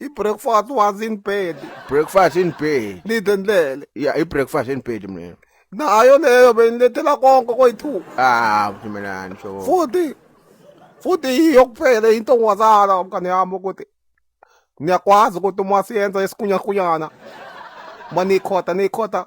I-breakfast was in bed. breakfast in bed Lide ndlele. ya i-breakfast in bed mina Nayo leyo benilethela konke koyithuka. ah mntanami so Futhi futhi yiyo kuphela into ongazala mngane yami ukuthi niyakwazi ukuthi uma siyenza isikunyakunyana uma niyikhotha niyikhotha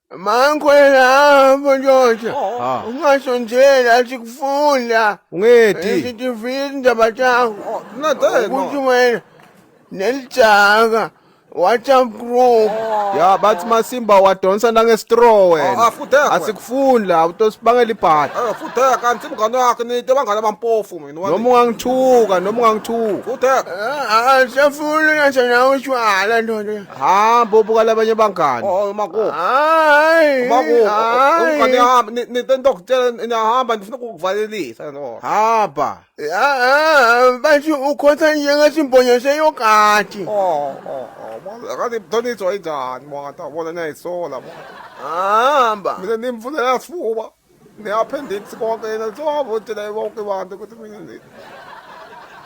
Mangikhwela hamba ndoda. Ah. Ungasho nje lathi kufunda. Ungedi. Isitifika indaba chakho. No, dad, no. Ukuthi wena nelijaka WhatsApp group. Ya bathi masimba wadonsa nangestraw wena. Ah, ah, futhi yakho. Asikufuni la utosibangela ibhadi. Eh futhi kanti imngane yakhe nite bangane abampofu mina. Noma ungangithuka noma ungangithuka. Futhi. Ah, sefuna ngasho nawe ushwala ndoda. hamba ubuka labanye abangani oh makubo hayi makubo umngane hamba nento ndokutshela niyahamba ndifuna ukukuvalelisa no hamba bathi ukhotha njengathi imbonyo seyokati oh oh oh akathi mthonitho ayinjani mwana bona nayisola mwana hamba mina nimfunela sifuba Ngiyaphindix konke yena sowavotela bonke abantu ukuthi mina nje.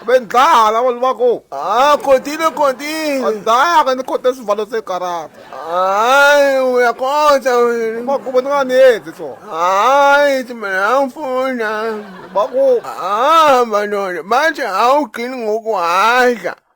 Bendlala abantu bakho. Ah, continue, continue. Andaya ke nikhote isivalo segarata. Hayi, uyakhonza wena. Bakubo ninganenzi so. Hayi, ithi mina angifuna. Bakubo. Hamba ndoda, manje awugcini ngokuhadla.